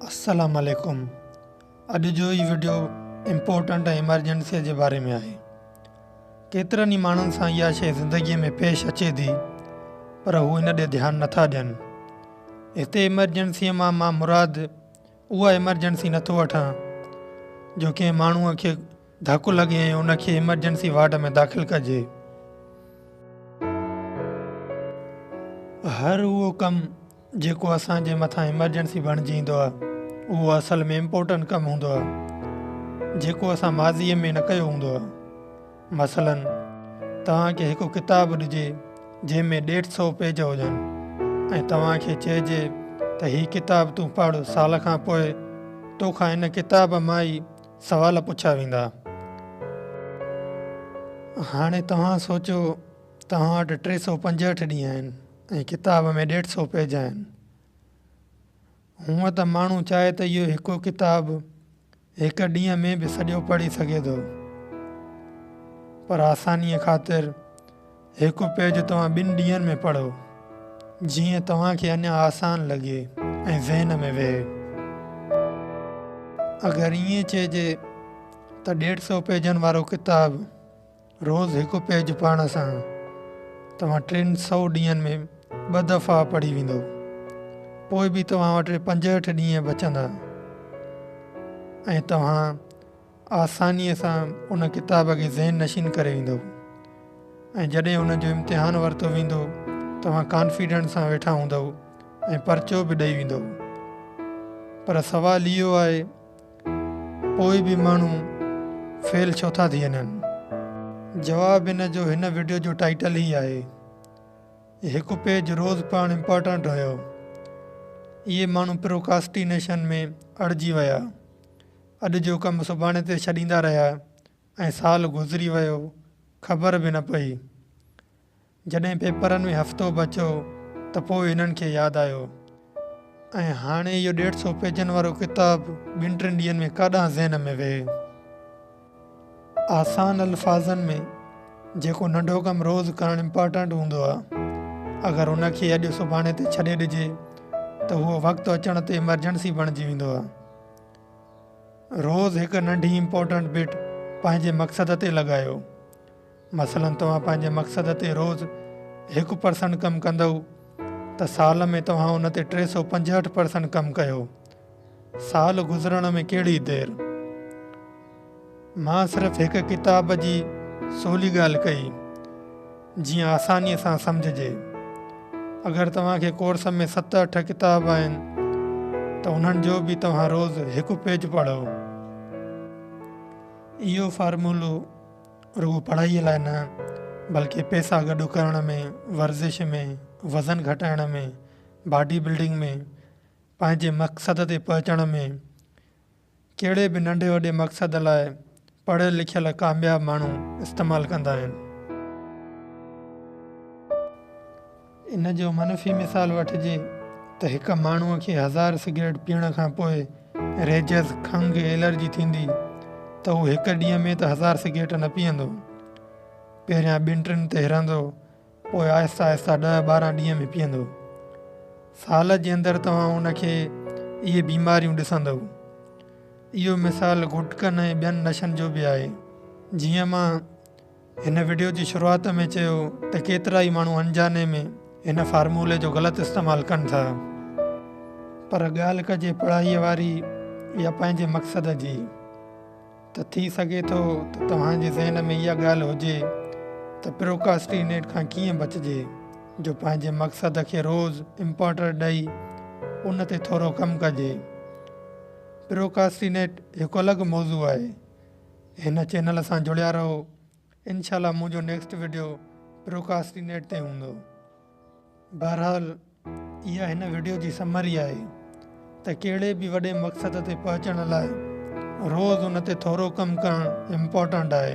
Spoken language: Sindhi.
السلام عليڪم اڄ جو هي وڊيو امپورٽنٽ ۽ ايمرجنسي جي باري ۾ آهي ڪيترن ئي ماڻهن سان اها شيء زندگي ۾ پيش اچي ٿي پر هو ان ڏي ڌيان نٿا ڏين هتي ايمرجنسي مان مان مراد اها ايمرجنسي نٿو وٺان جو ڪنهن ماڻهوء کي ڌڪ لڳي ۽ ان کي ايمرجنسي وارڊ ۾ داخل ڪجي. هر اهو ڪم جيڪو اسان جي مٿان ايمرجنسي بڻجي ايندو آهي اهو اصل ۾ امپورٽنٽ ڪم هوندو آهي جيڪو اسان ماضي ۾ نه ڪيو هوندو آهي مثلا توهان کي هڪ ڪتاب ڏجي جنهن ۾ ڏيڍ سئو پيج هجن ۽ توهان کي چئجي ته هي ڪتاب تون پڙهه سال کان پوء توکان ان ڪتاب مان ئي سوال پڇيا ويندا. هاڻي توهان سوچيو توهان وٽ ٽي سؤ پنجهٺ ڏينهن آهن ۽ ڪتاب ۾ ڏيڍ سؤ پيج آهن. هونء ته ماڻهو چاهي ته اهو هڪ ڪتاب هڪ ڏينهن ۾ به سڄو پڙهي سگهي ٿو. پر آسانيء خاطر هڪ پيج توهان ٻن ڏينهن ۾ پڙهو، جيئن توهان کي اڃا آسان لڳي ۽ ذهن ۾ ويهي. اگر ائين چئجي ته ڏيڍ سئو پيجن وارو ڪتاب روز هڪ پيج پڙهڻ سان توهان ٽن سئو ڏينهن ۾ ٻه دفعا پڙهي ويندو، پوء به توهان وٽ پنجهٺ ڏينهن بچندا ۽ توهان آسانيء سان ان ڪتاب کي ذهن نشين ڪري ويندو ۽ جڏهن ان جو امتحان ورتو ويندو توهان ڪانفيڊنٽ سان ويٺا هوندو ۽ پرچو به ڏئي ويندو پر سوال اهو آهي پوء به ماڻهو فيل ڇو ٿا ٿي وڃن جواب ان جو هن وڊيو جو ٽائيٽل ئي آهي هڪ پيج روز پڙهڻ امپارٽنٽ هيو اهي ماڻهو پروڪاسٽينيشن ۾ اڙجي ويا اڄ جو ڪم سڀاڻي تي ڇڏيندا رهيا ۽ سال گذري ويو خبر به نه پئي. جڏهن پيپرن ۾ هفتو بچو ته پوء هنن کي ياد آيو ۽ هاڻي اهو ڏيڍ سو پيجن وارو ڪتاب ٻن ٽن ڏينهن ۾ ڪاڏانهن ذهن ۾ ويهي. آسان الفاظن ۾ جيڪو ننڍو ڪم روز ڪرڻ امپارٽنٽ هوندو آهي اگر ان کي اڄ سڀاڻي تي ڇڏي ڏجي ته اهو وقت اچڻ تي ايمرجنسي بڻجي ويندو آهي. روز هڪ ننڍي امپورٽنٽ بٽ پنهنجي مقصد تي لڳايو مثلا توهان پنهنجي مقصد تي روز هڪ پرسنٽ ڪم ڪندئو ته سال ۾ توهان ان تي ٽي سؤ پنجهٺ پرسنٽ ڪم ڪيو سال گذرڻ ۾ ڪهڙي دير. مان صرف هڪ ڪتاب جي سولي ڳالهه ڪئي جيئن آسانيء سان سمجهجي. اگر توهان کي ڪورس ۾ ست اٺ ڪتاب آهن ته انهن جو به توهان روز هڪ پيج پڙهو. اهو فارمولو رڳو پڙهائيء لاء نه بلڪه پيسا گڏ ڪرڻ ۾، ورزش ۾، وزن گهٽائڻ ۾، باڊي بلڊنگ ۾، پنهنجي مقصد تي پهچڻ ۾، ڪهڙي به ننڍي وڏي مقصد لاء پڙهيل لکيل ڪامياب ماڻهو استعمال ڪندا آهن. ان جو منفي مثال وٺجي ته هڪ ماڻهو کي هزار سگريٽ پيئڻ کان پوء ريجز، کنگهه، الرجي ٿيندي ته هو هڪ ڏينهن ۾ ته هزار سگريٽ نه پيئندو. پهريان ٻن ٽن تي هرندو پوء آهستي آهستي ڏهه ٻارهن ڏينهن ۾ پيئندو. سال جي اندر توهان ان کي اهي بيماريون ڏسندئو. اهو مثال گٽڪن ۽ ٻين نشن جو به آهي. جيئن مان هن وڊيو جي شروعات ۾ چيو ته ڪيترائي ماڻهو انجاني ۾ هن فارمولي جو غلط استعمال ڪن ٿا. پر ڳالهه ڪجي پڙهائيء واري يا پنهنجي مقصد جي. ته ٿي سگهي ٿو ته توهان جي ذهن ۾ اها ڳالهه هجي ته پروڪاسٽينيٽ کان ڪيئن بچجي جو پنهنجي مقصد کي روز امپارٽر ڏئي ان تي ٿورو ڪم ڪجي. پروڪاسٽينيٽ هڪ الڳ موضوع آهي. هن چينل سان جڙيا رهو. انشاء الله منهنجو نيڪسٽ ويڊيو پروڪاسٽي نيٽ تي هوندو بهرحال اها هن ويڊيو جي سمري آهي ته ڪهڙي به وڏي مقصد تي پهچڻ لاء روز ان تي ٿورو ڪم ڪرڻ امپورٽنٽ آهي